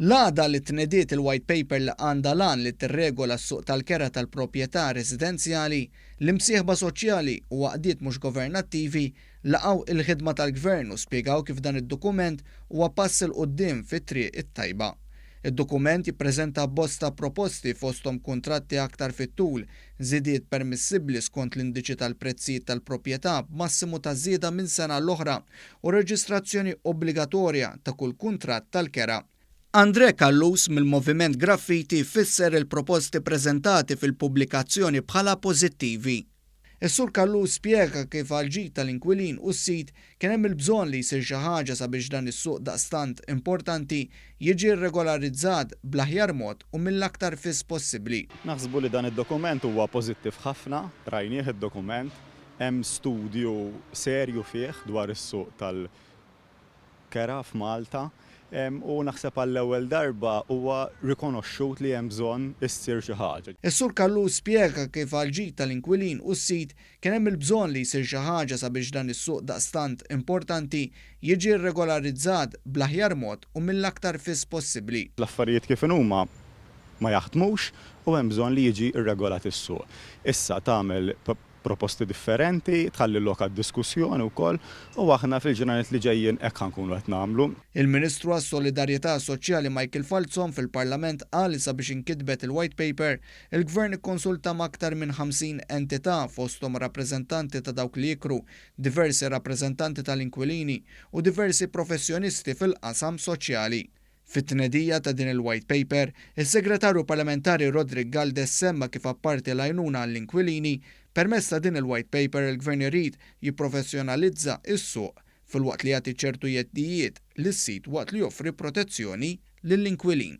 L-għada li tnediet il-White Paper li għandha l-għan li tirregola s-suq tal-kera tal-proprjetà residenzjali, l-imsieħba soċjali u għaqdiet mhux governattivi laqgħu l-ħidma tal-Gvern u spjegaw kif dan id-dokument huwa pass 'il quddiem fit-triq it-tajba. Id-dokument jippreżenta abbozz ta' proposti fosthom kuntratti aktar fit-tul Żidiet permissibbli skont l-indiċi tal-prezzijiet tal-proprjetà b'massimu ta' żieda minn sena l-oħra u reġistrazzjoni obbligatorja ta' kull kuntratt tal-kera. Andrè Callus mill-Moviment Graffiti fisser il-proposti preżentati fil-pubblikazzjoni bħala pożittivi. Is-Sur Callus spjega kif għall-ġid tal-inkwilin u s-sid Kien hemm il-bżonn li jsir xi ħaġa sabiex dan is-suq daqstant importanti jiġi rregolarizzat bl-aħjar mod u mill-aktar fis possibbli. Naħsbu li dan id-dokument huwa pożittiv ħafna, rajnieh id-dokument, hemm studju serju fih dwar is-suq tal-kera f'Malta u naħseb għall-ewwel darba huwa rikonoxxut li hemm bżonn issir xi ħaġa. Is-Sur Callus spjega kif għall-ġid tal-inkwilin u s-sid Kien hemm il-bżonn li jsir xi ħaġa sabiex dan is-suq daqstant importanti jiġi rregolarizzat bl-aħjar mod u mill-aktar fis possibbli. L-affarijiet kif inhuma ma jaħdmux u hemm bżonn li jiġi rregolat is-suq. Issa tagħmel proposti differenti, tħalli lok għad-diskussjoni wkoll u aħna fil-ġranet li ġejjin hekk ħa nkunu qed nagħmlu. Il-Ministru għas-Solidarjetà Soċjali Michael Falzon fil-Parlament qal li sabiex inkitbet il-White Paper Il-Gvern ikkonsulta m'aktar minn 50 entità, fosthom rappreżentanti ta' dawk li jikru, diversi rappreżentanti tal-inkwilini u diversi professjonisti fil-qasam soċjali. Fit-tnedija ta' din il-White Paper, is-Segretarju Parlamentari Roderick Galdes semma kif apparti l-għajnuna għall-inkwilini, permezz ta' din il-White Paper il-Gvern irid jipprofessjonalizza s-suq filwaqt li jagħti ċertu jeddijiet lis-sid waqt li joffri protezzjoni lill-inkwilin.